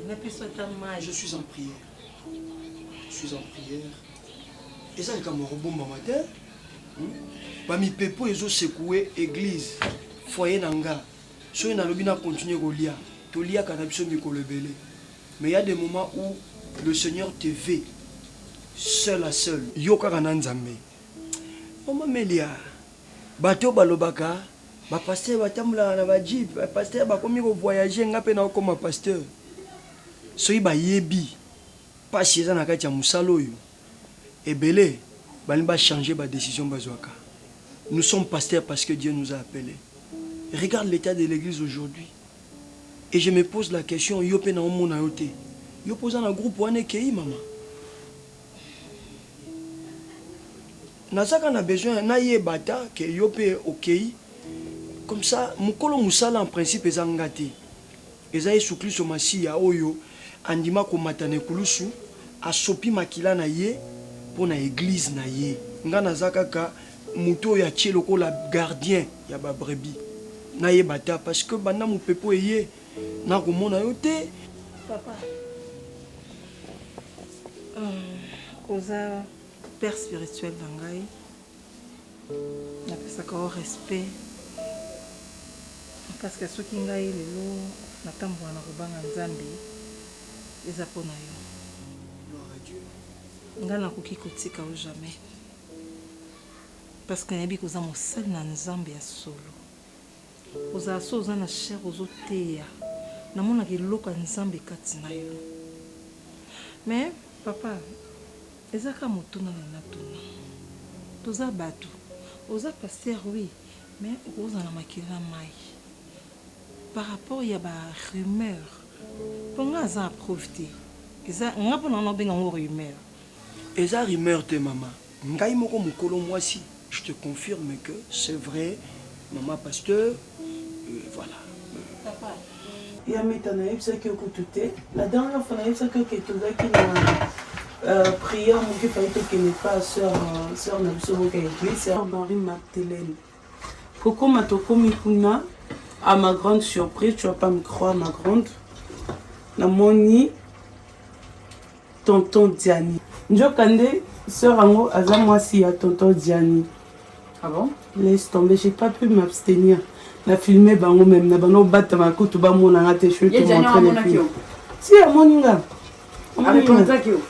napesa ata mai je suis en prière je suis en prière eza likambo ya kobombama te hmm? bamipepo ezosekue eglise foye na nga soki nalobi na continue kolia toliaka na biso mikolo ebele mais ya des moments où le seigneur te ve seul à seul yo kaka na nzambe mama melia bato balobaka Ba pasteur ba tambolaka na ba jeep, ba pasteur ba komi ko voyager, nga pe nao koma pasteur. Soki ba yebi pasi eza na kati ya musala oyo, ebele ba lingi ba changer ba decision ba zwaka. Nous sommes pasteurs parce que Dieu nous a appele. Regarde l'etat de l'eglise aujourd'hui et je me pose la question, yo pe nao mona yo te? Yo pe oza na groupe wana ekeyi mama? Nazaka na besoin na yeba ata que yo pe okeyi comme ça mukolo musala en principe eza nga te eza yesu klisto masiya oyo andima komata na ekulusu asopi makila na ye pona eglise na ye nga naza kaka mutu oyo atie lokola gardien ya ba brebis na yeba ata parce que banda mupepe oyo eye nako mona yo te papa. Hum, oza père spirituel na ngai. Napesaka yo respect. Parce que soki ngai lelo natambola na kobanga Nzambe, eza mpo na yo. Ngai nakoki kotika yo jamais. Parce que nayebi koza mosali na Nzambe ya solo. Ozala soki oza na chaire ozo teya namonaka eloko ya nzambe kati na yo mais papa eza kaka motuna na natuna toza batu oza pasteur oui mais okozala na makila na mayi par rapport ya ba rumeur po nga naza na preuve te eza nga pona nga nazo benga yango rumeur. Eza rumeur te maman. Ngai moko mukolo muasi je te confirme que ce vrai maman pasteur voilà. Papa. Ya meta nayebisaki yo kutu te la dernière fois nayebisaki yo ke tozalaki na euh, prière moke fai tokende pa sœur euh, sœur na biso moko ya église sœur Marie Magdeleine Kokoma tokomi kuna à ma grande surprise, tu vas pas me croire ma grande. Namoni tonton Diani. Njoka nde sœur yango aza mwasi ya tonton Diani. Ah bon? Laisse tomber, j'ai pas pu m'abstenir. Na filmer bango même na bana obatama kutu bamona nga te, je vais te montrer les films. Si amoni nga. areconnaîtraki yo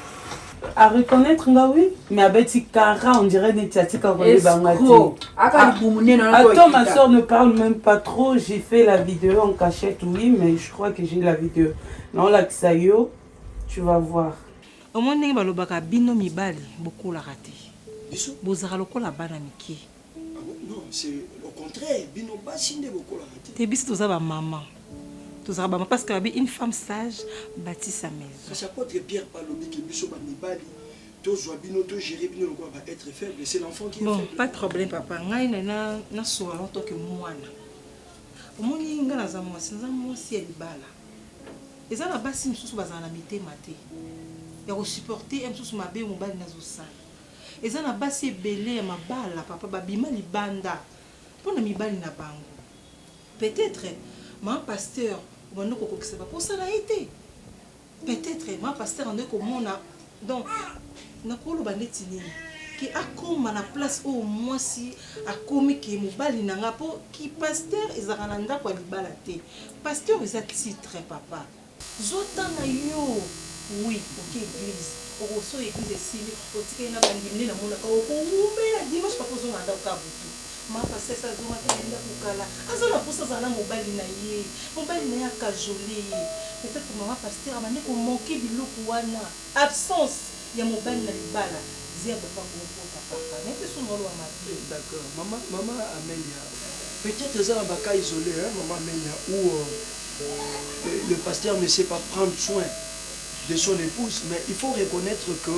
areconnaitre nga oui mais abeti kara on dirait neti atika koyebanga teattends ma soeur ne parle même pas trop j'ai fait la vidéo en cachette oui mais je crois que j'ai la vidéo naolakisa yo tu vas voir omoni ndenge balobaka bino mibali bokolaka te bozalaka lokola bana mike te biso toza ba mama tozalaka ba mama parce que babi une femme sage bâti sa maison kasi apôtre Pierre pa lobi ke biso ba mibali tozwa bino to gérer bino lokola ba être faible c'est l'enfant qui bon pas de problème papa ngai na na na soa en tant que mwana omoni ngai naza mwasi naza mwasi ya libala eza na basi mosusu bazala na mitema te ya kosupporte ya mosusu mabe mobali nazosala Eza na basi ebele ya mabala papa ba bima libanda pona mibali na bango peut etre maman pasteur obandi ko kokisa ba posa na ye te peut etre maman pasteur andaki ko mona donc na ko loba ndeti nini ke akoma na place oyo muasi akomi ke mobali na nga po ki pasteur ezalaka na ndaku ya libala te pasteur eza titre papa Zwa temps na yo oui oke eglise oko soyi eglise esili otikali na bandimi nde namonaka oko wumela dimanche papa ozonga na ndaku kaka butu ma pasteur sa azongaki na ndaku kala aza na posa azala na mobali na ye mobali na ye a cajole ye peut etre mama pasteur abandi ko manque biloko wana. Absence ya mobali na libala zero epa bo kota papa mais te sunga oloba mabe. D'accord maman maman Amelia peut etre eza na ba cas isoles hein maman Amelia ou le pasteur ne sait pas prendre soin de son epouse mais il faut reconnaitre que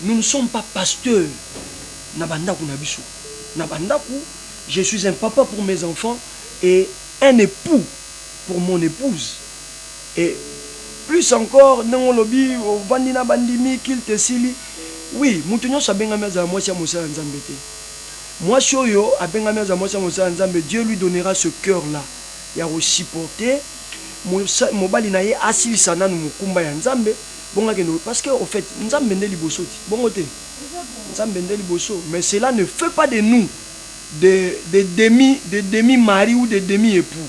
nous ne sommes pas pasteurs na ba ndaku na biso na ba ndaku je suis un papa pour mes enfants et un epoux pour mon epouse Et plus encore ndenge olobi ovandi na ba ndimi culte esili oui mutu nionso abengami azala mwasi ya mosali ya nzambe te mwasi oyo abengami azala mwasi ya mosali ya nzambe Dieu lui donnera ce cœur là ya ko supporter mobali na ye asilisa nanu mokumba ya nzambe bongo akende parce que au faite nzambe nde liboso ti bongo te nzambe nde liboso mais cela ne fait pas de nous des demi des demi mari ou des demi epoux.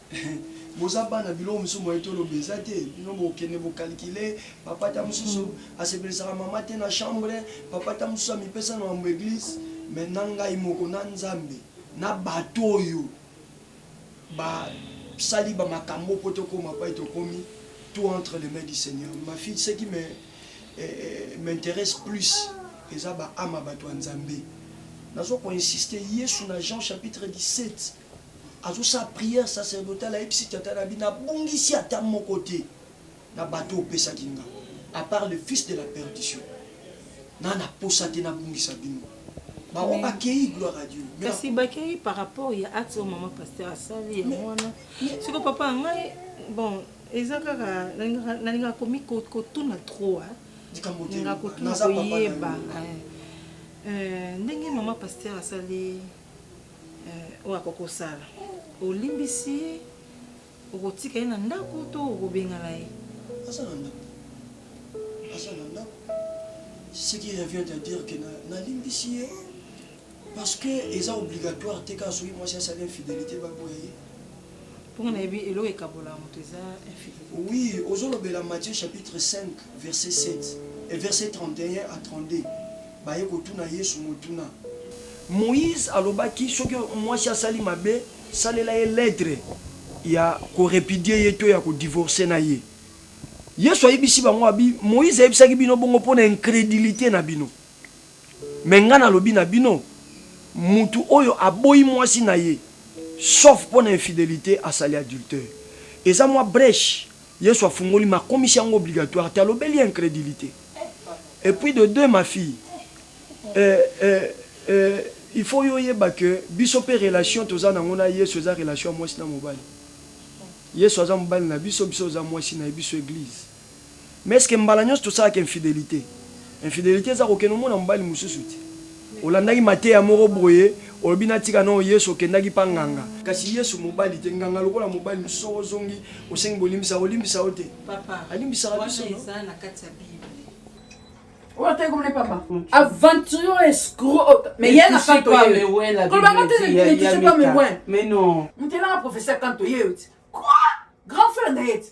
Boza bana biloko misusu moyen to loba eza te bino bo kende bo calculer papa ata mususu a sepelisaka maman te na chambre papa ata mususu a mipesa na mambo ya eglise mais na ngai moko na nzambe na batu oyo ba sali ba makambo po to koma epai to komi tout entre les mains du seigneur ma fille ce qui me m'interesse plus eza ba ame ya batu ya nzambe nazo ko insiste yesu na jean chapitre 17 Azo sala prière sacerdotale ayebisi tata na bi na bungisi ata moko te na bato opesaki nga à part le fils de la perdition na na posa te na bungisa bino bango ba keyi gloire à Dieu mais kasi ba keyi par rapport ya acte oyo maman pasteur asali ya mwana siko papa ngai bon eza kaka nalingaka komi kotuna trop hein likambo te naza papa na yo ndenge mama pasteur asali Eh, oyo akoki kosala olimbisi ye okotika ye na ndako to okobengana ye aza na ndako aza na ndako ce qui revient à dire que nalimbisi ye parce que eza obligatoire te kaka soki mwasi asali infidélité baboya ye Mpo nga nayebi eloko ekabolaka moto eza infidelite. Oui ozo lobela Matthieu chapitre 5 verset 7 et verset 31 à 32 baye kotuna yesu motuna. Moïse alobaki soki mwasi asali mabe salela ye ledre ya ko repudier ye to ya ko divorcer na ye. Yesu ayebisi bango abi Moïse ayebisaki bino bongo mpo na incredulite na bino. Mais nga nalobi na bino, mutu oyo aboyi mwasi na ye sauf pona infidelite asali adultère. Eza mwa breche Yesu afungoli mais akomisi yango obligatoire te, alobeli incredulite. Et puis de deux ma fille eh eh eh il faut yo oyeba que biso pe relation toza nango na Yesu eza relation ya mwasi na mobali. Yesu aza mobali na biso, biso toza mwasi na ye, biso eglise. Mais est ce que mbala nionso tosalaka infidelite? Infidelite eza kokende omona mobali mosusu te. Olandaki mateya moko boye, olobi natika noo Yesu, okendaki pa nganga. Kasi Yesu mobali te, nganga lokola mobali mosusu soki ozongi osengi bolimbisi akolimbisa yo te? Papa, wana eza na kati ya bible. Oyo atali komona ye papa aventurier oyo escroc oyo mais ye na kanto ye koloba nga te ne touche pas mes moyens moto elanga professeur kanto ye yo ti quoi grand frère na ye ti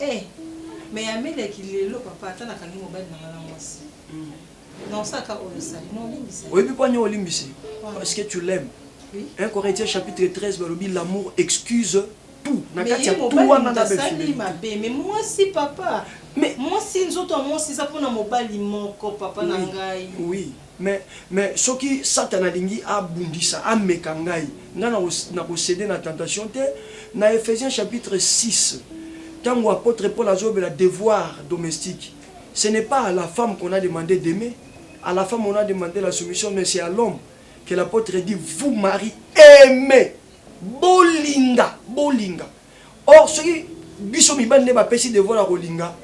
Eh mais ya meleki lelo papa ata nakangi mobali na nga na mwasi na osala kaka oyo osali na olimbisa oyebi po anya olimbisi parce que tu l'aimes 1 Corinthiens chapitre 13 balobi l'amour excuse tout na kati ya tout wana na befimeli mabe mais mwasi papa mais mwasi nzoto ya mwasi eza pona mobali moko papa na ngai oui, oui. Mais, mais soki Satana alingi abundisa, ameka ngai, ngai nako, nako ceder na tentation te. Na Ephesiens chapitre six, tangu apotre Paul azolobela devoirs domestiques, ce n'est pas à la femme qu'on a demande d'aimer, à la femme on a demande la soumission, mais c'est à l'homme que l'apotre dit, vous maries, aimez, bolinga, bolinga. Or soki biso mibali nde ba pesi devoir ya kolinga,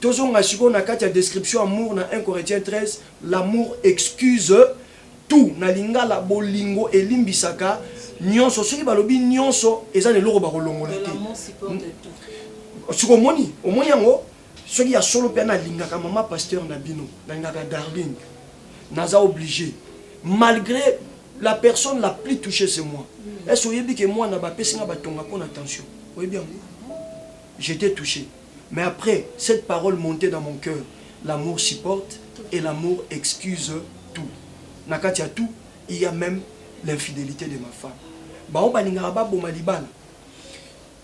to zonga sikoyo na kati ya description amour na un Corinthiens 13, l'amour excuse tout, na lingala bolingo elimbisaka nionso, soki balobi nionso eza na eloko bako longola te. Sikoyo omoni? Omoni yango? Soki ya solo pe na lingaka maman pasteur na bino, na lingaka Darling, naza oblige malgre La personne la plus touchee c'est moi. Est-ce que oyebi que mwana ba pesi nga ba tonga pona tension? Oyebi yango? J'etais touche. Mais après, cette parole monte dans mon cœur, l'amour supporte et l'amour excuse tout. Na kati ya tout, il ya meme l'infidelite de ma femme. Bango balingaka ba boma libala.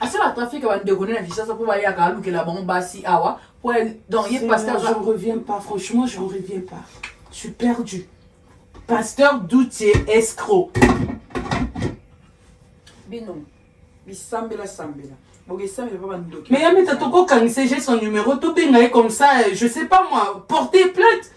asala trafic ya bandeko nde na kinshasa mpo bayaka alukela bango basi awa po donc ye pasteur je reviens pas franchement je reviens pas je suis perdu pasteur doutier escro bino bisambela sambela Mais Yameta, toko kanise, j'ai son numéro, tout bien, comme ça, je sais pas moi, porter plainte.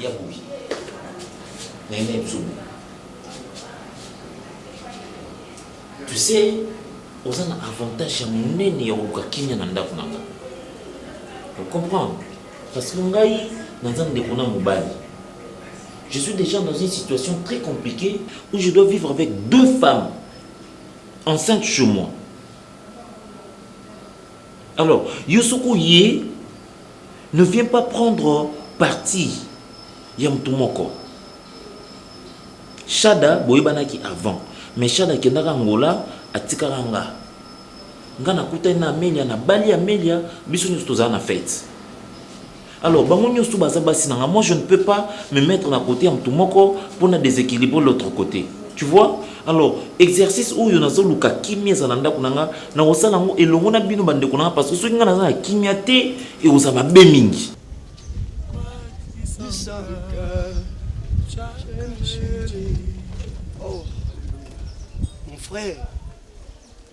Ya boye. Nene Msubu. Tu sais, oza na avantage ya monene ya koluka kimia na ndako na nga. Vous comprenez Parce que ngai, naza ndeko na mobali. Je suis déjà dans une situation très compliquée où je dois vivre avec deux femmes enceintes chez moi. Alors, yo soki oye, ne viens pas prendre parti ya mutu moko. Shada boyebanaki avant, mais Shada akendaka Angola, atikaka nga. Nga nakutani na Amelia, nabali Amelia, biso nyonso tozala na fete. Alors bango nyoso baza basi na nga, moi je ne peux pas me mettre na côté ya mutu moko pona déséquilibre l'autre côté. Tu vois? Alors exercice oyo nazo luka kimia ezala ndako na nga, na kosala yango elongo na bino ba ndeko na nga parce que soki nga naza na kimia te ekoza mabe mingi. Oh, mon frère,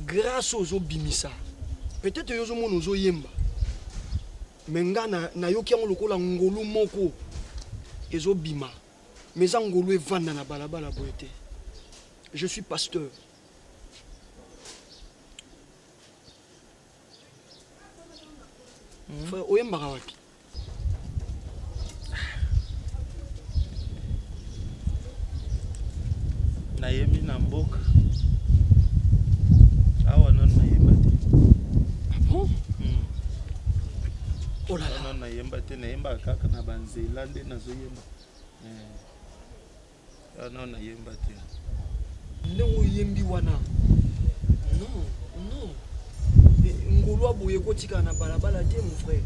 Grace oyo ozo bimisa peut etre yo ozo mona ozo yemba mais nga na nayoki yango lokola ngolu moko ezo bima mais eza ngolu evanda na balabala boye te je suis pasteur Frère, oyembaka wapi? Nayembi na mboka. Awa nanu nayemba te. Ah bon? Hmm. Oh là là. Nanu nayemba te, nayembaka kaka na banzela nde nazoyemba. Eh. Ah, non, na yemba te. Ndenge oyembi wana. Non, non. Ngolwa boye kotika na balabala te mon frère.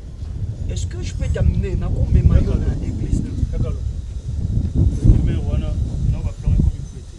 Est-ce que je peux t'amener na ko mema yo na église na. Kakalo. Mais wana na ba plan ko mi prêter.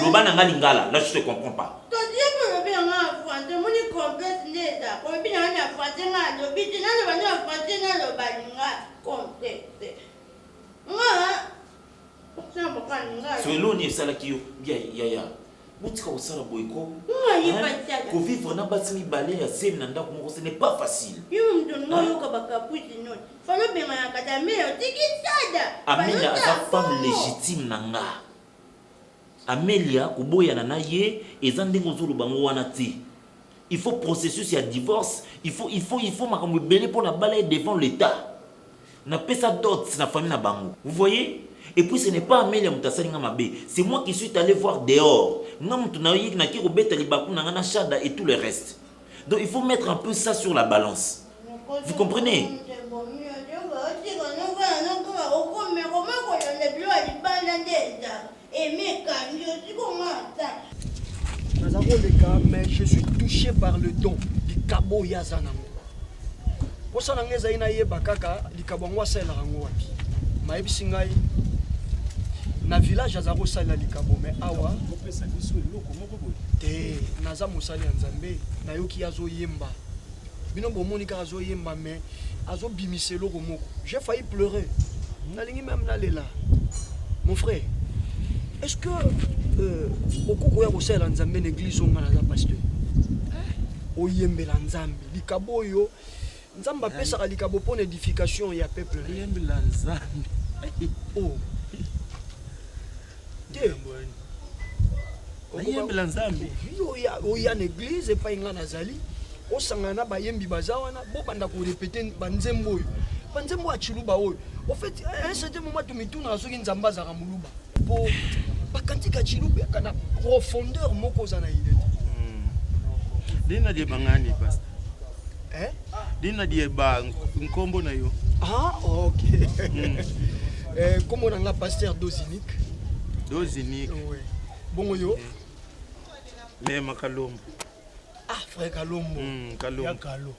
loba na nga lingala là je te comprends pas soki eloni esalaki yo bia yaya Botika kosala boye ko. Ko vivre na basi mibale ya zemi na ndako moko ce n'est pas facile. Yo mtu ngo yoka ba caprice non. Falo benga na kata mais otiki sada. Amelia aza femme légitime na nga. Amelia koboyana na ye eza ndenge ozoloba ngo wana te. il faut processus ya divorce il faut il faut il faut makambo ebele mpo na bala ye devant l'etat napesa dot na famille na bango vous voyez et puis ce n'est pas amelia moto asali nga mabe c'est moi qui suis allé voir dehors nga moto nayoki naki kobeta libaku na nga na shada et tout le reste donc il faut mettre un peu ça sur la balance vous comprenez Naza koleka mais je suis touché par le don likabo oyo aza nango mposa na ngai ezali nayeba kaka likabo yango asalelaka yango wapi mayebisi ngai na village aza kosalela likabo me awa te naza mosali ya nzambe nayoki azoyemba bino bomoni kaka azo yemba mais azo bimisa eloko moko j'ai failli pleurer nalingi meme nalela mon frère est ce que euh, okoki koya kosalela nzambe na eglise onga naza pasteur eh. oyembela nzambe likabo oyo nzambe apesaka likabo mpo na edification ya peuple oyembela nzambe oh. te oyembela nzambe oya na eglize epai ngai nazali osangana na bayembi baza wana bobanda korepete banzembo oyo banzembo ya ciluba oyo ofait un certain moment tomitunaka soki nzambe azalaka moluba mpo bakantika ciluba na profondeur moko oza na ile te hmm. ndenge naliebangani pasta eh? dina dieba nkombo na yo ah, ok mm. eh, nkombo na nga pasteur dosinique dosinique oui. bongo yo eh. lema kalombo ah frère kalombo mm, kalombo ya kalo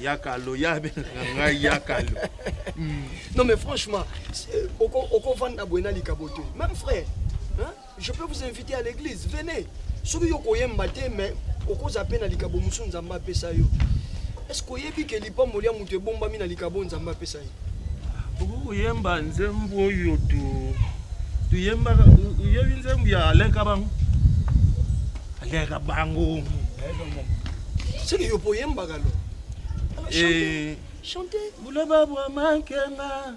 ya kalo ya abengaka ngai ya kalo mm. non mais franchement okovanda boye na likabo te même frère hein? Je peux vous inviter à l'église, venez. Soki yo koyemba te mais okoza pe na likabo musu Nzambe apesa yo. Est-ce que oyebi que lipambo lia mutu ebombami na likabo Nzambe apesa ye? Okoki koyemba nzembo oyo tu tuyembaka oyebi nzembo ya Alain Kabango? Alain Kabango. Soki yo poyembaka lo. Eh, Chantez. Boulaba bwa mankenga.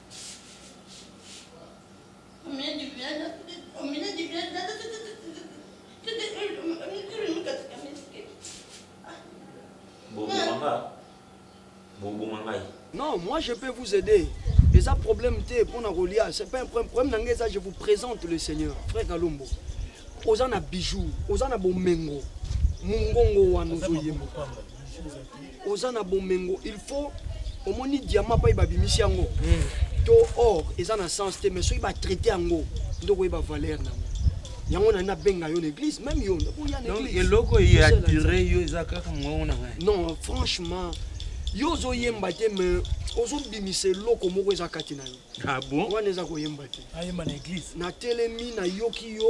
Non, moi je peux vous aider. Les a problème te pona kolia, c'est pas un problème. Problème nanga eza je vous présente le Seigneur, frère Kalombo. Oza na bijoux, oza na bomengo. Mungongo wana ozo yemba. oza na bomengo il faut omoni diamant pai babimisi yango hmm. to or eza na sens te mais soki batraite yango nde okoyeba valeur na yango yango nani nabenga yo na église même yo nakoya na église eloko eye attire yo eza kaka mongongo na ngai non franchement yo ozoyemba te mais ozobimisa eloko moko eza kati na yo ah wana eza koyemba te natelemi nayoki yo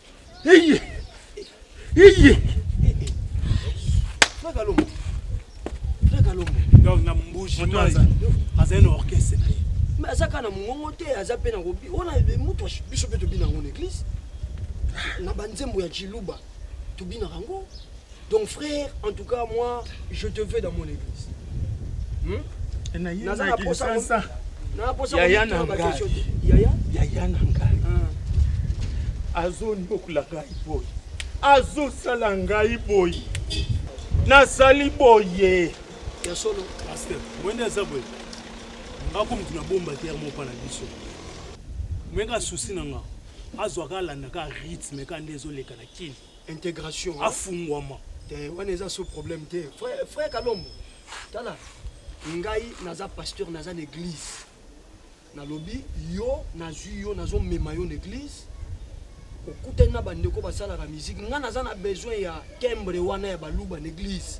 Iye. Iye. Fraka Lombo. Fraka Lombo. Donc na mbuji mai. Aza na orchestre na ye. Mais aza kana mongongo te, aza pe na kobi. Ona mutu biso pe tobina ngo na église. Na banzembo ya Chiluba. Tobina ngo. Donc frère, en tout cas moi je te veux dans mon église. Hmm? Naza na posa sasa. Na posa yaya na ngai. Yaya? Yaya na ngai. Ah. Azo ndokola ngai boy. Azo sala ngai boy. Nasali boye. Ya solo. Pasteur, mwende aza boye. Ako mutu na bomba te mo pa na biso. Mwenga souci na nga. Azo akalanda ka rythme ka ndezo leka na kini. integration afungwama te wana eza so problème te frère, frère kalombo tala ngai naza pasteur naza na église nalobi yo nazwi yo nazomema yo na église okutani na bandeko basalaka musique ngai naza na besoin ya timbre wana ya baluba na église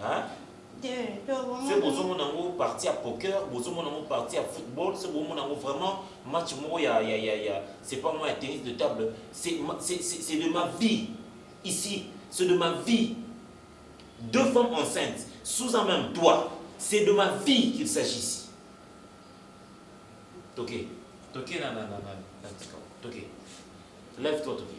Hein? Te, to bomoni. Se bozo mona ngo partie ya poker, bozo mona ngo partie ya football, se bo mona ngo vraiment match moko ya ya ya ya c'est pas moi ya tennis de table, c'est c'est c'est de ma vie ici, c'est de ma vie deux femmes enceintes sous un même toit, c'est de ma vie qu'il s'agit ici. Toke, toke na na na na na tika, toke. Lève-toi toke.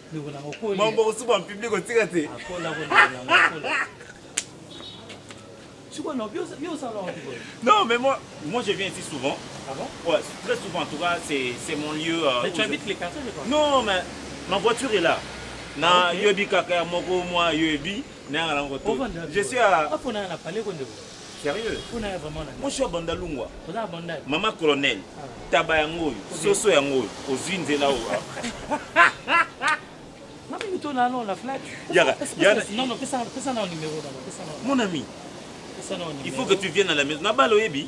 Mambo kusuba public otika te. Non, mais moi, moi je viens ici souvent. Ah bon Ouais, très souvent en tout cas, c'est mon lieu. Euh, mais tu habites je... les quartiers quoi Non, mais ma voiture est là. Na okay. yobi kaka moko moi yobi na ngala ngoto. Je suis à. Apo na na palais ko ndeko. Sérieux? Kuna ya vraiment na. Moshi wa Bandalungwa. Oza ya Bandal. Mama colonel. Ah. Taba yango oyo, soso yango oyo, ozwi nzela oyo. Mami mito na non la flat. Yaka. Non non, pesa pesa na numéro na. Pesa na. Mon ami. Pesa na numéro. Il faut que tu viennes à la maison. Na balo yebi.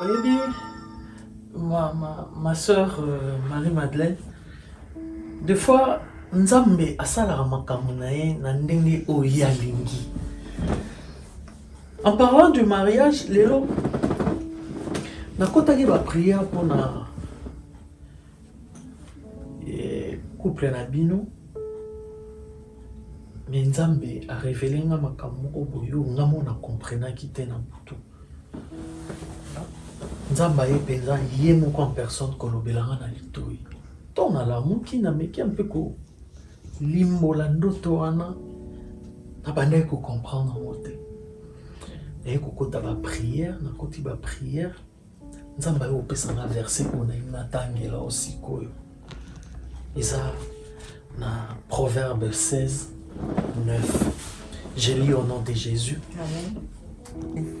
oyebi ma, ma, ma soeur euh, marie madeleine de fois nzambe asalaka makambo na ye na ndenge oyo ye alingi En parlant du mariage, lelo nakotaki ba prière mpona eh, couple na bino me nzambe arevele nga makambo moko boyo nga mo na comprenaki te na butu nzambe aye mpenza ye moko en personne kolobela nga na litoi ntongo nalamuki nameki mpe ko Limbola ndoto wana nabandaki ko comprendre yango te naye kokota ba prière nakoti ba prière nzambe aye kopesa na verse oyo nayebi natangela o sikoyo eza na proverbe 16 9 je lis au nom de jésus Amen.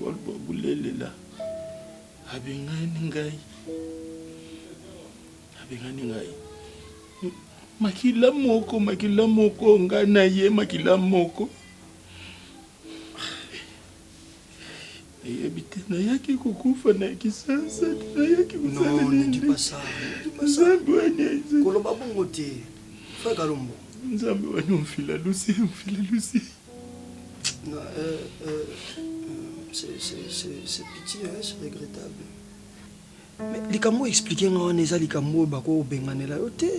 Boloba bulelela abengani ngai, abengani ngai makila moko, makila moko, ngai na ye makila moko. nayebi te nayaki kokufa na kisasa te nayaki kosaleliinzambe waniakoloba bongo te frère kalombo nzambe wani omfila lusi omfila lusi Likambo explique nga wana eza likambo oyo bako benganela yo te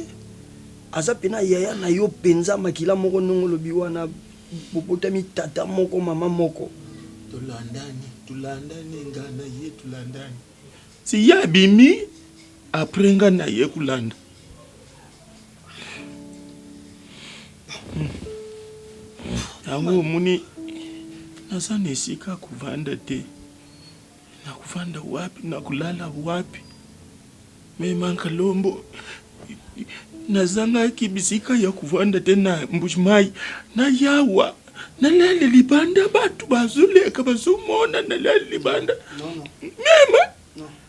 aza pena yaya na yo penza makila moko ndenge olobi wana bobotami tata moko mama moko tolandani tolandani nga na ye tolandani si ye abimi apres nga na ye kolanda yango omoni naza na esika kovanda te nakovanda wapi nakolala wapi memaka lombo nazangaki bisika ya kovanda te na mbujimayi na yawa nalali libanda bato bazoleka bazomona nalali libanda mema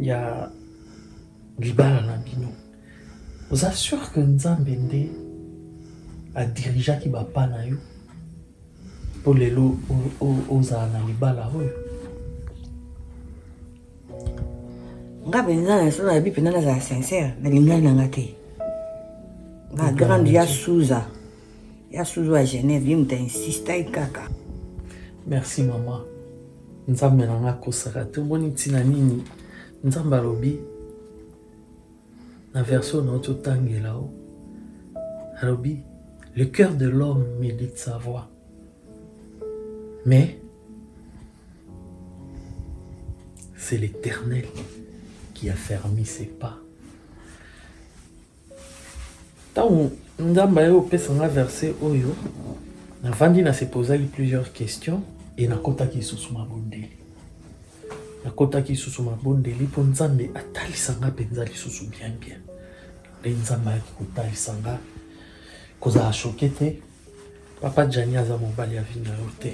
ya libala na bino oza sur que nzambe nde adirigeaki bapa na yo mpo lelo ozala na libala oyo nga mpenza nasala yabi mpenza nazala sincere nalingani na nga te nga grande ya suza ya suza ya genève ye moto ainsistaki kaka merci mama nzambe na nga akosaka te omoni ntina nini nzambe alobi na version na ototangela o alobi le cœur de l'homme médite sa voix mais c'est l'éternel qui a fermi ses pas Ntango Nzambe aye kopesa nga verse oyo, navandi na se posaki plusieurs questions e nakotaki lisusu mabondeli. Nakotaki lisusu mabondeli mpo Nzambe atalisa nga mpenza lisusu bien bien. Nde Nzambe ayaki kotalisa nga kozala shoke te, papa Jani aza mobali ya vi na yo te.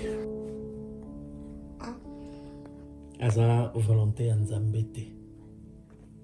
aza volonté ya Nzambe te.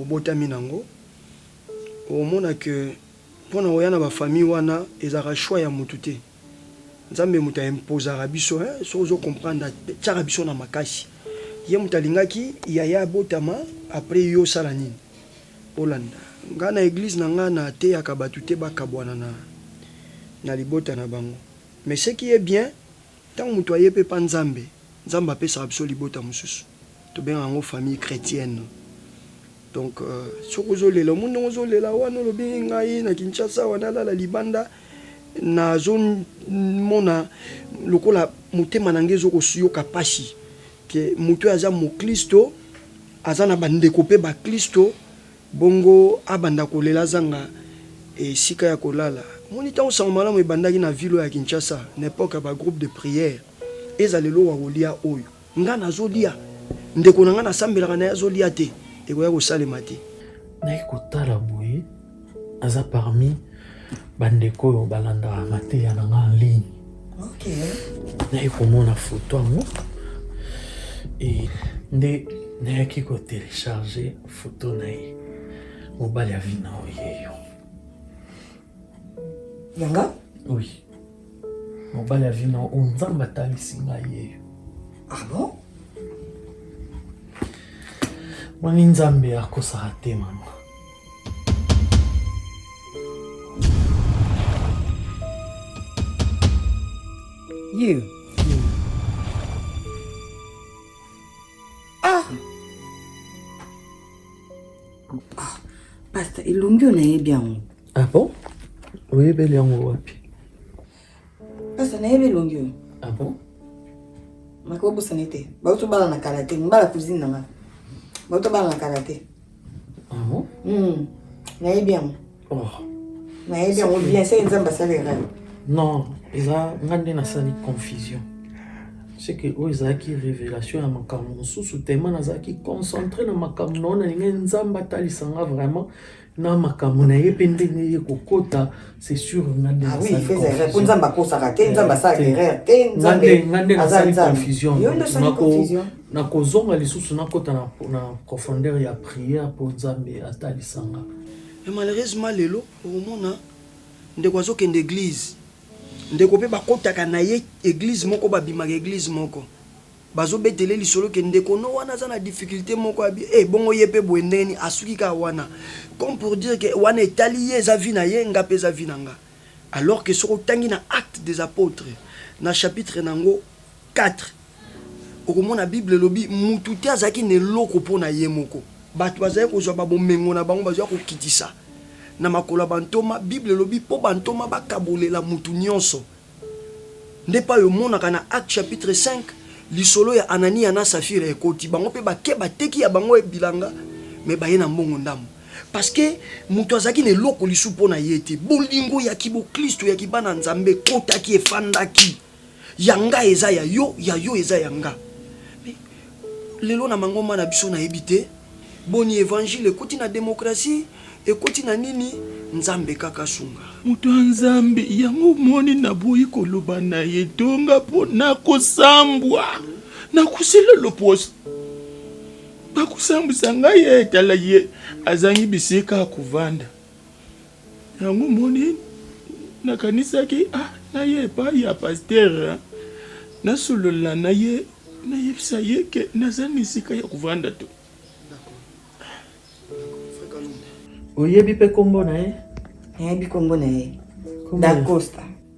obotami na ngo okomona que pona oya na ba famille wana ezalaka choix ya mutu te nzambe mutu a imposaka biso hein soki ozo comprendre atiaka biso na makasi ye mutu alingaki yaya abotama après yo osala nini olanda nga na eglise na nga na teyaka batu te bakabuana na libota na bango mais ce qui est bien Tango mutu aye pe pa Nzambe, Nzambe apesaka biso libota mususu, tobengaka yango famille chretienne. Donc soki ozo lela, omoni ndenge ozo lela wana olobi ngai na Kinshasa awa nalala libanda, nazo mona lokola motema na ngai ezo ko yoka pasi que mutu oyo aza moklisto, aza na ba ndeko pe baklisto. Bongo abanda kolela azanga esika ya kolala. Omoni tango sango malamu ebandaki na ville oyo ya Kinshasa na epoque ya ba groupe de prière ezala eloko ya kolia oyo nga nazo lia ndeko na nga na sambelaka naye azo lia te ekoya kosalema te. Nayaki kotala boye aza parmi ba ndeko oyo ba landaka mateya na nga en ligne. Nayaki komona photo yango et nde nayaki ko telecharger. Foto na ye. Mobali ya vie na yo ye yo. Yanga? Oui. Mobali ya vie na yo Nzambe atalisi ngai ye yo. Ah bon? Moni Nzambe akosaka te mama. You. ah! ah pasta elongi oyo nayebi yango ah bon oyebeli yango wapi pasta nayebi elongi oyo ah bon nakobosani te bauti obala na kala te mbala cousine na nga bauti obala na kala te Ah bon? Hmm. nayebi yango oh. nayebi yango bien seke nzambe asalaka non eza nga nde nasali confusion seke oyo ezalaki révélation ya makambo mosusu tema nazalaki concentré na makambo na oyo nalingai nzambe atalisa nga vraiment na makambo na ye mpe ndenge ye kokota c'est sûr nga nde ah po nzambe akosaka te nzambe asala erreur te nzambe asala confusion Nako zonga lisusu na kota na na profondeur ya prière po Nzambe atalisa nga. Mais malheureusement lelo okomona ndeko azo kende eglise ndeko pe bakotaka na ye eglise moko ba bimaka eglise moko bazo betele lisolo ke ndeko no wana aza na difficulte moko abi eh bongo ye pe boye ndenge nini asuki kaka wana comme pour dire ke wana etali ye eza vie na ye nga pe eza vie na nga alors ke soki otangi na acte des apotres na chapitre na ngo Quatre, okomona Bible elobi mutu te azalaki na eloko mpo na ye moko. Bato bazalaki kozwa ba bomengo na bango bazwaki kokitisa. Na makolo ya bantoma, Bible elobi mpo bantoma bakabolela mutu nionso. Nde epai omonaka na Actes chapitre 5, lisolo ya Ananiya na Safira ekoti. Bango mpe bake bateki ya bango bilanga mais baye na mbongo ndambo. Parce que mutu azalaki na eloko lisusu mpo na ye te. Bolingo ya kiboklisto ya kibana Nzambe ekotaki, efandaki. Ya nga eza ya yo, ya yo eza ya nga. Mais lelo na mangomba na biso nayebi te boni evangile ekoti na democratie, ekoti na nini? Nzambe kaka asunga. Moto ya Nzambe, yango omoni naboyi koloba na etonga po nakosambwa, nakosila loposo. Bakosambwisa ngai ee, tala ye, azangi bisika ya kovanda. Yango moni nakanisaki ah, naye epai ya pasteur hein. nasolola na ye nayebisa ye ke naza na esika ya kovanda to Oyebi pe kombo na ye? Nayebi kombo na ye. Dacosta.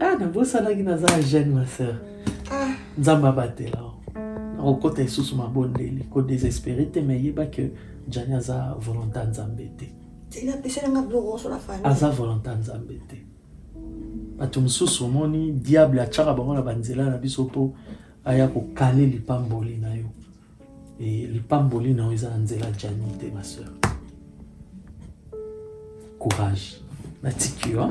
Ah, nabosanaki naza ya jeune ma sœur. Ah, Nzambe abatela. Nakokota lisusu mabondeli, ko desespere te mais yeba que Jani aza volontaire Nzambe te. Tina pesela nga biloko nyonso na famille. Aza volontaire Nzambe te. Bato mosusu omoni diable atyaka bango na banzela na biso mpo aya kokale lipamboli na yo. Et lipamboli na yo eza na nzela Gianni te ma soeur. Courage. Natiki yo.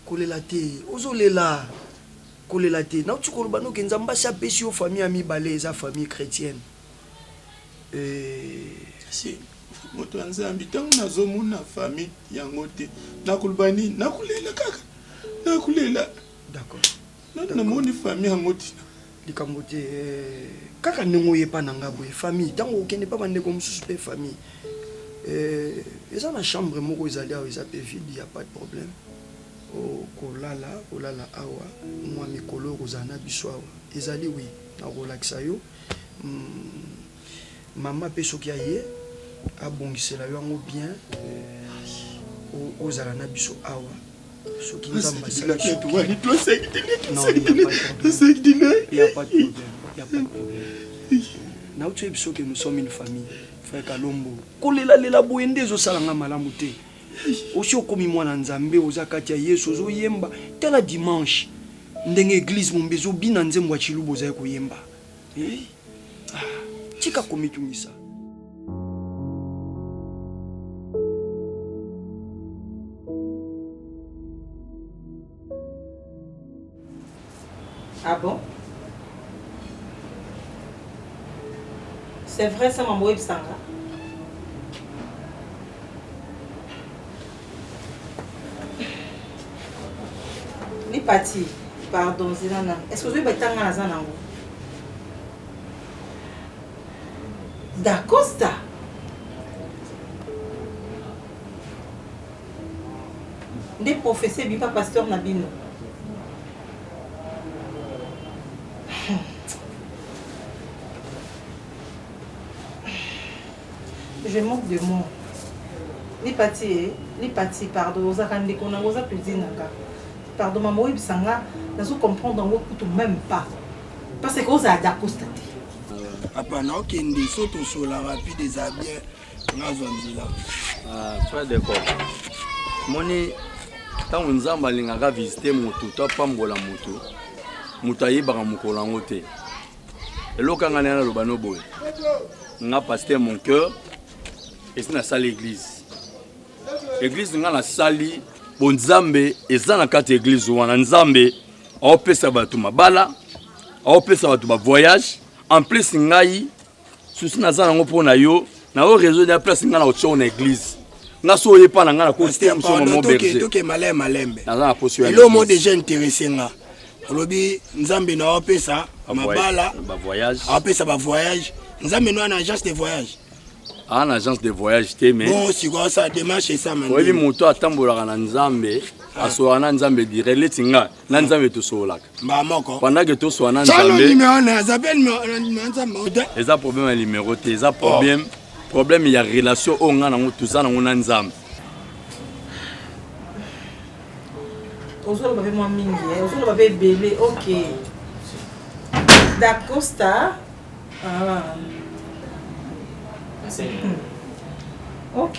kolela te ozolela kolela te nauti koloba noke nzambe asi apesi yo famille ya mibale eza famille chrétienne Eeh moto ya nzambe ntango nazomona famille yango te nakoloba nini nakolela kaka nakolela d'accord nani namoni famille yango tina likambo te eh, kaka ndenge oye epa na ngai boye famille ntango okende epa bandeko mosusu mpe famille eh, eza na chambre moko ezali awa eza mpe vide ya pas de problème okolala oh, kolala awa mwa mikolo okozala na biso awa ezali wi nakolakisa yo Maman pe soki aye abongisela yo yango bien ozala na biso awa soki nzambe nauti oyebi soki nous sommes une famille frère kalombo kolelalela boye nde ezosala nga malamu te Osi okomi mwana nzambe oza kati ya yesu ozo yemba tala dimanche ndenge eglise momba ezo bina nzembo ya tshiluba ozali koyemba eeh ah tika komitungisa. Ah bon? C'est vrai ça maman oyebisanga? Ni parti. Pardon, zela na. Est-ce que ozoyeba etanga naza nango? Dacosta. nde professeur ebima pasteur na bino je manque de moi lipati e eh, lipati pardon ozalaka ndeko nango oza pedi na nga pardon mama oyebisa nga nazo comprendre yango kutu même pas parce que ozala dacosta te apana okende so tosola rapide eza bien nazwa nzela ah, frère de cop moni ntango nzambe alingaka visite moto to apambola moto moto ayebaka mokolo yango te eloko yanga naye naloba no boye nga paster mon cœur esi nasali église église nga nasali bo nzambe eza na kati ya église wana nzambe aopesa bato mabala aopesa bato bavoyage en plus ngai souci naza nango mpo na yo na yo réseau ya place ngai na otioko na église nga so oye mpa na ngai nakonaza na poso elo mo déjà intéressé nga olobi nzambe na opesa mabala apesa bavoyage nzambe no ana agence de voyage aa ah, na agence de voyage te mais bon sikoyo sa démarche esamani oyebi moto atambolaka na nzambe ah. asolaka na nzambe dire leti ngai na nzambe tosololaka mbala moko pendant que toswa na nzambeeza problème ya numero te eza problème problème ya relation oyo ngai nango toza nango na nzambe ozoloba mpe mwa mingi eh. ozoloba mpe ebele ok dacosta ah. hmm. ok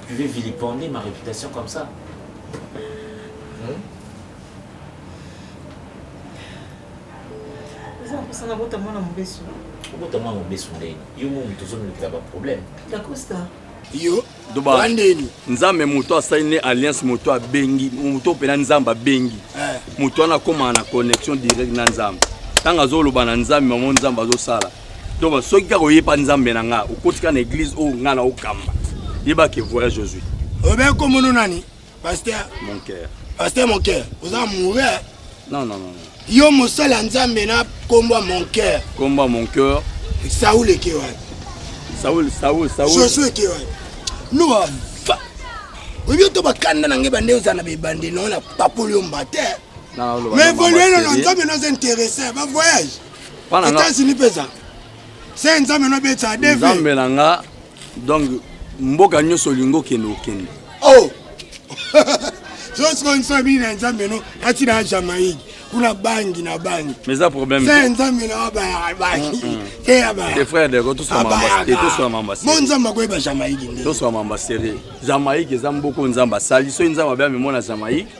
Vous pouvez vilipender ma réputation comme ça hmm? eza mposa nabota mwana mobesu obota mwana mobesu ndeni yo momi tozomilukela baproblème dacosta yo doba nzambe moto asali ne alliance moto abengi moto mpena nzambe abengi eh. moto wana akomaka na connexion direct na nzambe ntango azoloba na nzambe mamo nzambe azosala donc soki kaka oyeba nzambe na nga okotika na eglise oyo nga na okamba yeba ke voyage ozwi obe komono nani pasteur mon cœur pasteur mon cœur oza mourre non non non yo mosali ya nzambe na nkombo ya mon cœur nkombo ya mon cœur saul eke wapi saul saul saul josu eke wapi noa va oyebi oto bakanda na ngai bande ozala na bebande nao na papoli yo mba te mais evolue nono nzambe noza interesse ba voyage Etats-Unis peza. Se nzambe no betsa ADV. Nzambe na nga donc mboka nyonso olingi okende okende. Oh. Sosko nso bini na nzambe no ati na Jamaïque kuna bangi na bangi. Mais ça problème. Se nzambe na ba bangi. Te ya ba. Tes frères de ko tous mamba. Et tous mamba. Mon nzambe ko ba Jamaïque. Tous mamba serré. Jamaïque eza mboko nzambe sali so nzambe ba mona Jamaïque.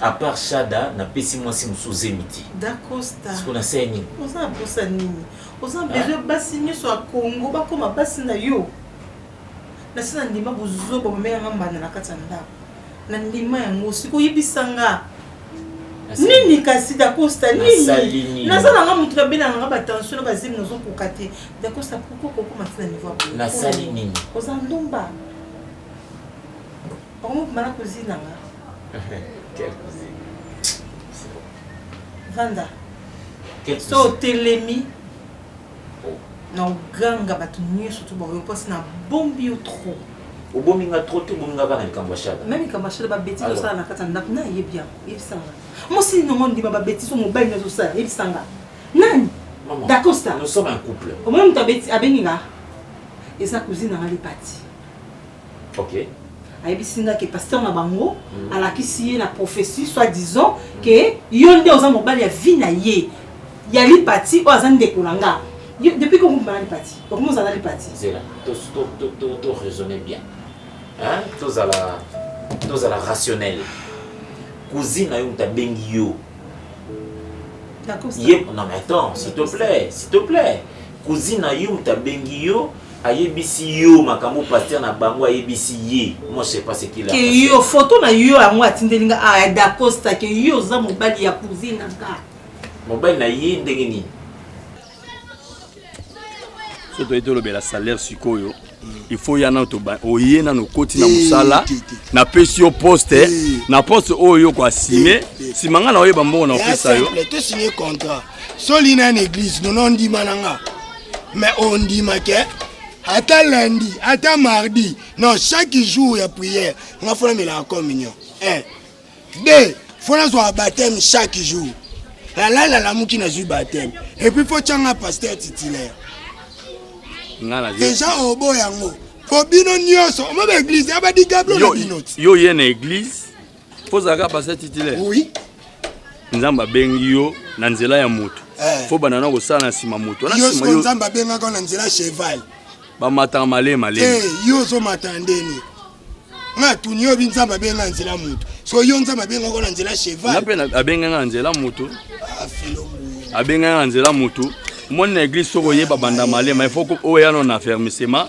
A part Shada na pesi mwasi mususu zemi ti. Dacosta. Siko na se nini? Oza na posa nini? Oza na besoin basi nyoso ya Congo bakoma basi na yo. Na se na ndima buzoba bamela nga mbanda na kati ya ndako. Na ndima yango siko yebisa nga. nini kasi dacosta nini naza nanga moto nabelanga nga batension na bazemi nazokoka te dacosta pourkoi kokoma ti na niveau nasali nini oza ndumba Bango mokuma na cousine na nga. Quelle cousine? C'est bon. Vanda. Quelle cousine? So telemi. Oh. Na oganga bato nyonso to baoyo mpasi na bombi yo trop. obomi nga trop to obomi nga kaka na likambo ya shada meme likambo ya shada babetise osala na kati ya ndako nayebi yango yebisanga mosi nongo ndima babetise mobali nyonso osala yebisanga nani dacosta nous sommes un couple omoni moto abengi nga eza cousine nanga lipati Okay. ayebisi nga ke pasteur na bango mm. alakisi ye na prophetie soit disant ke yo nde oza mobali ya vie na ye ya lipati oyo aza ndeko na nga depuis kokumba na lipati okomi ozala lipati zela to raisonne bien tozala tozala rationnel cousine na yo moto abengi yo ye non mais attends s'il te plaît s'il te plaît cousine na yo moto abengi yo ayebisi yo makambo pasteur na bango ayebisi ye moi je sais pas ce qu'il a ke yo photo na yo yango atindeli nga ah dacosta ke yo oza mobali ya cousine na nga mobali na ye ndenge nini so toyei tolobela salaire sikoyo il faut ya nano oye nano okoti na mosala napesi yo poste na poste oyo yo koasime nsima ngai na oyeba mbongo na opesa yo so lina na église nono ndima na nga mais on dit que ata lundi ata mardi non chaque jour ya prière nga fona mela ya communion un deux fona zwa baptême chaque jour lalala lamuki nazwi baptême epuis fo tyanga pasteur titulaire deja obo yango po bino nyonso omo baeglise ya badigablo na bino yo ye na eglise ozalaka pasa titulaire oui. nzambe abengi yo na nzela ya moto eh. fo banda na kosala na nsima moto nzambe abengaka na nzela cheval bamataka male male eh, yo ozomata ndeni nga atuni yo bi nzambe abenga nzela moto so yo nzambe abengaka na nzela cheval mpe abengaka na nzela moto ah, abengaka na nzela moto omoni na eglise soki oyeba banda malema il faut oyano na fermisema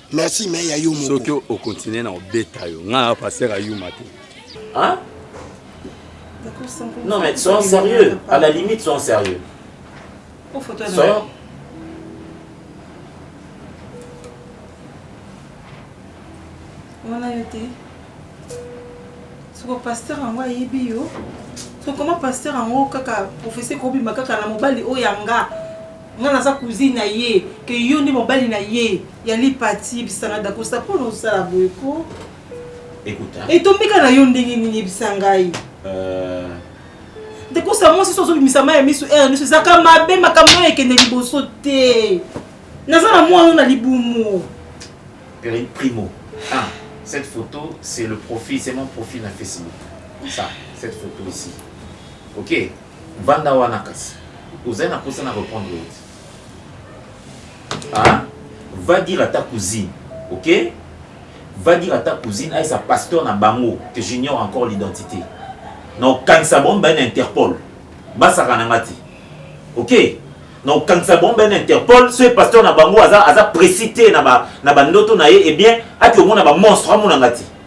Merci mais ya yo moko. Soki o continuer na obeta yo. Nga pasteur ayuma te. Hein? Non mais soyons sérieux. À la limite soyons sérieux. Soyons wana yo te soko pasteur yango ayebi yo soko koma pasteur yango kaka professeur kobima kaka na mobali oyo yanga Nga naza cousine na ye que yo nde mobali na ye ya lipa ti yebisa nga dacosta mpo na osala boye ko Écoute. etombika na yo ndenge nini yebisa ngai Euh, dacosta mwasi so ozobimisa mai ya miso ere miso ezaka mabe makambo oyo ekende liboso te naza na mwana oyo na libumu Pri- Primo. Ah, cette photo, c'est le profil, c'est mon profil à Facebook. Ça, cette photo ici. Ok Vanda wana kasi ozali na posa na repondre yo te ah? va dire ata cousine ok va dire ata cousine ayesa pasteur na bango que j'ignore encore l'identité na okangisa bango mibale na interpol basaka na nga te ok na okangisa bango mibale na interpol soki pasteur na bango aza, aza précis te na bandoto na, na ye ebien eh ati omona bamonstre amona nga te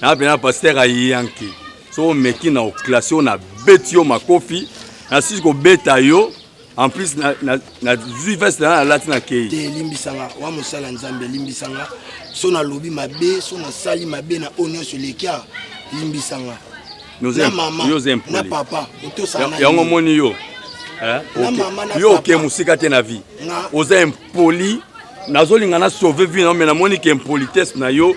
na pena pasteur ayanki so omeki na oklase oyo nabeti yo makofi nasisi kobeta yo en plus nazwi veste na nalati na kei te elimbisanga wa mosala nzambe elimbisanga so nalobi mabe so nasali mabe na oyo nyonso elekia limbisanga na mama na papa otosana yango omoni yo eh? yo oke mosika te na vie oza impoli nazolinga na sauve vie na yo me namoni ke impolitesse na yo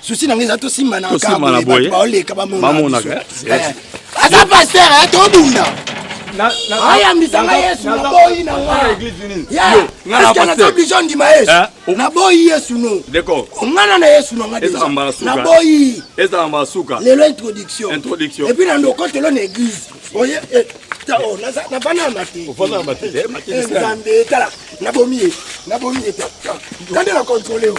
susi na ngai eza tosimbana tosimbana boye baoleka bamonaka eh, eh, eh. aza paster tobunda ayambisa ngai yesu naboyi na ngaioblige ondima yesu naboyi yesu no ongana na yesu na nganaboyi ezala mbala suka lelo introduction epuis na ndokotelo na eglise oye navanda na mate nzambe tala nabomi ye nabomi ye tande na controle yo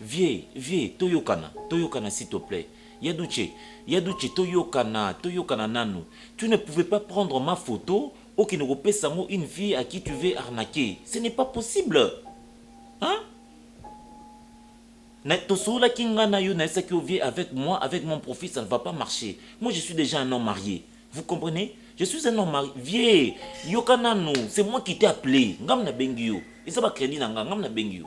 Vieux vieux toyokana toyokana s'il te plait ya doutshe ya doutshe toyokana toyokana nanu tu ne pouvais pas prendre ma photo okende kopesa yango une fille à qui tu veux arnaquer ce n'est pas possible hein na tosololaki nga na yo nayebisaki yo vieux avec moi avec mon profil ça ne va pas marcher moi je suis dejà un homme marier vous comprenez je suis un homme marier vieux yoka nanu c'est moi qui t'ai appelé ngam nabengi yo eza ba credit na nga ngam nabengi yo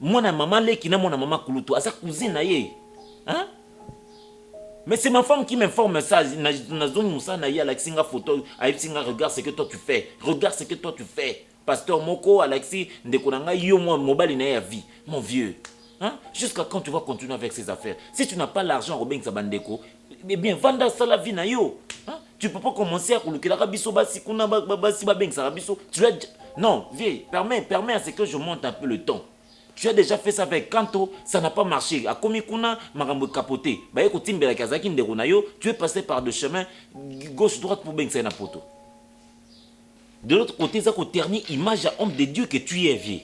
Mwana ya mama leki na mwana mama kulutu aza cousine na ye hein? Mais c'est ma femme qui m'informe ça. Nazongi musala na ye alakisi nga photo, ayebisi nga regarde ce que toi tu fais. Regarde ce que toi tu fais. Pasteur moko alakisi ndeko na nga yo mwa mobali na ye ya vie. Mon vieux. Hein? Jusqu'à quand tu vas continuer avec ces affaires? Si tu n'as pas l'argent, obengisa bandeko, Eh bien, vanda sala vie na yo. Hein? Tu peux pas commencer à kulukelaka biso basi kuna ba- ba- basi babengisaka biso. Tu as non, vieux, permets, permets à ce que je monte un peu le temps. Tu as déjà fait ça avec Kanto, ça n'a pas marché. Akomi kuna makambo capoté. Baye kotimbela kazaki ndeko na yo, tu es passé par deux chemins gauche droite pour bengisa ye na poto. De l'autre côté, ça ko ternir image à homme de Dieu que tu es vieux.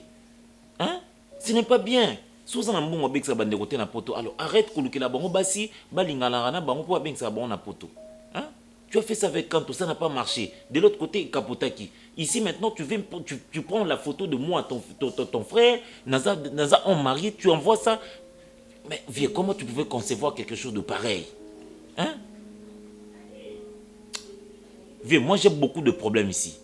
Hein? Ce n'est pas bien soki oza na mbongo obekisaka ba ndeko te na poto alors arrete kolukela bango basi balinganaka na bango po babengisaka bango na poto hein tu as fait ça avec Kanto ça n'a pas marche de l'autre cote ekapotaki ici maintenant tu veux tu, tu prends la photo de moi ton, ton, ton, ton frère naza, naza homme marié tu envoies ça mais vieux comment tu pouvais concevoir quelque chose de pareil hein vieux moi j'ai beaucoup de problèmes ici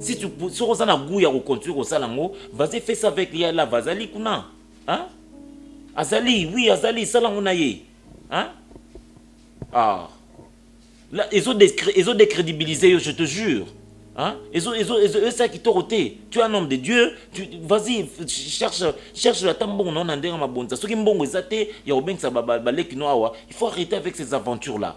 Si tu soki oza na gout ya ko continuer kosala yango, vas-y fais ça avec ya lava azali kuna hein? azali oui azali sala yango na ye hein? ah là ezo ezo décrédibiliser yo je te jure hein? ezo ezo ezo esa kitoko te tu es un homme de Dieu tu vas-y cherche cherche ata mbongo na na ndenge mabonza soki mbongo eza te ya kobengisa baleki no awa il faut arrêter avec ces aventures là